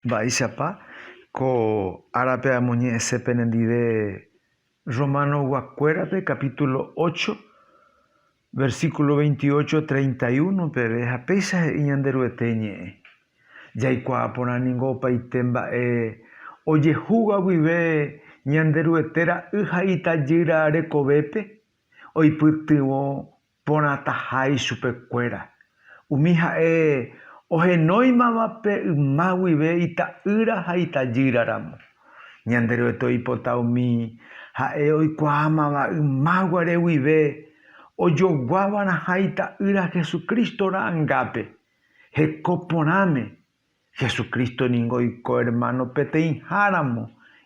Mba'éichapa ko árape amoñe'ẽse penendive Rromanoguakuérape kapítulo ocho, versíkulo veintiocho, treinta y uno peve ha péicha he'i Ñanderuete ñe'ẽ, Jaikuaa porã ningo opaite mba'e ojehúva guive Ñanderuete ra'y ha itajýra rekovépe oipytyvõ Porãtaha ichupekuéra, umi ha'e ohenóimava pe yma guive ita'ýra ha itajýra ramo. Ñanderuete oipota umi ha'e oikuaámava yma guare guive ojoguáva'erãha Ita'ýra Jesucristo ra'angápe, heko porãme Jesucristo ningo oiko ermáno peteĩháramo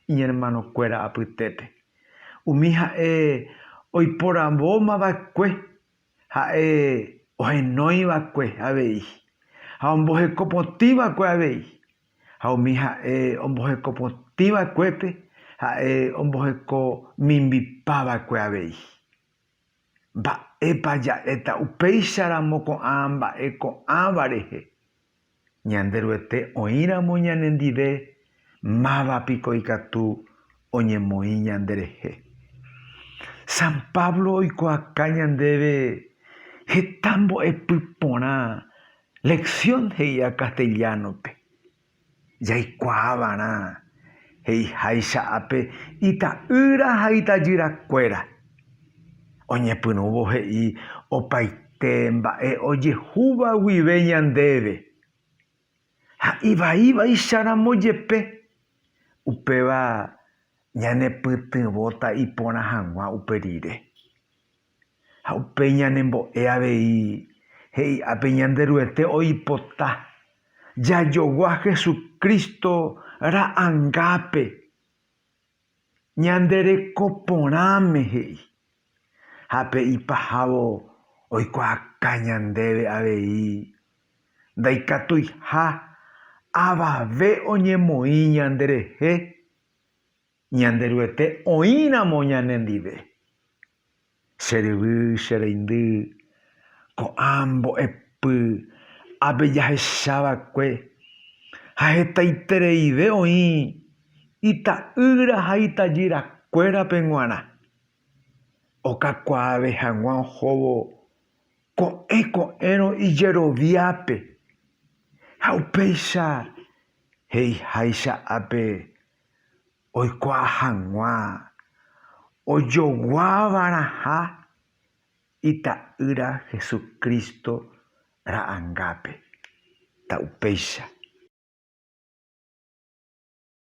iñermanokuéra apytépe. Umi ha'e oiporãvoma va'ekue ha'e ohenói va'ekue avei, ha omboheko potĩ va'ekue avei. Ha umi ha'e omboheko potĩ va'ekuépe ha'e omboheko mimbipa va'ekue avei. Mba'épa ja'éta upéicharamo ko'ã mba'e ko'ãva rehe? Ñanderuete oĩramo ñanendive, máva piko ikatu oñemoĩ ñanderehe? San Pablo oikuaaka ñandéve heta mbo'epy porã, lección he'íva castellano-pe. Jaikuaava'erã he'iháicha ápe ita'ýra ha itajyrakuéra, oñepyrũvo he'i opaite mba'e ojehúva guive ñandéve, ha ivaivaicharamo jepe, upéva ñanepytyvõta iporã hag̃ua upe rire. Ha upéi ñanembo'e avei he'i'ápe Ñanderuete oipota jajogua Jesucristo ra'angápe ñande reko porãme, he'i. Ha pe ipahávo oikuaaka ñandéve avei ndaikatuiha avave oñemoĩ ñande rehe Ñanderuete oĩramo ñane ndive. Che ryvy, che reindy, ko'ã mbo'epy ápe jahecha va'ekue ha hetaitereive oĩ ita'ýra ha itajýra kuérape g̃uarã, okakuaave hag̃ua ohóvo ko'ẽ ko'ẽrõ ijeroviápe ha upéicha he'iháicha ápe oikuaa hag̃ua ojoguáva'erãha Ita'ýra Jesucristo ra'angápe, ta upéicha.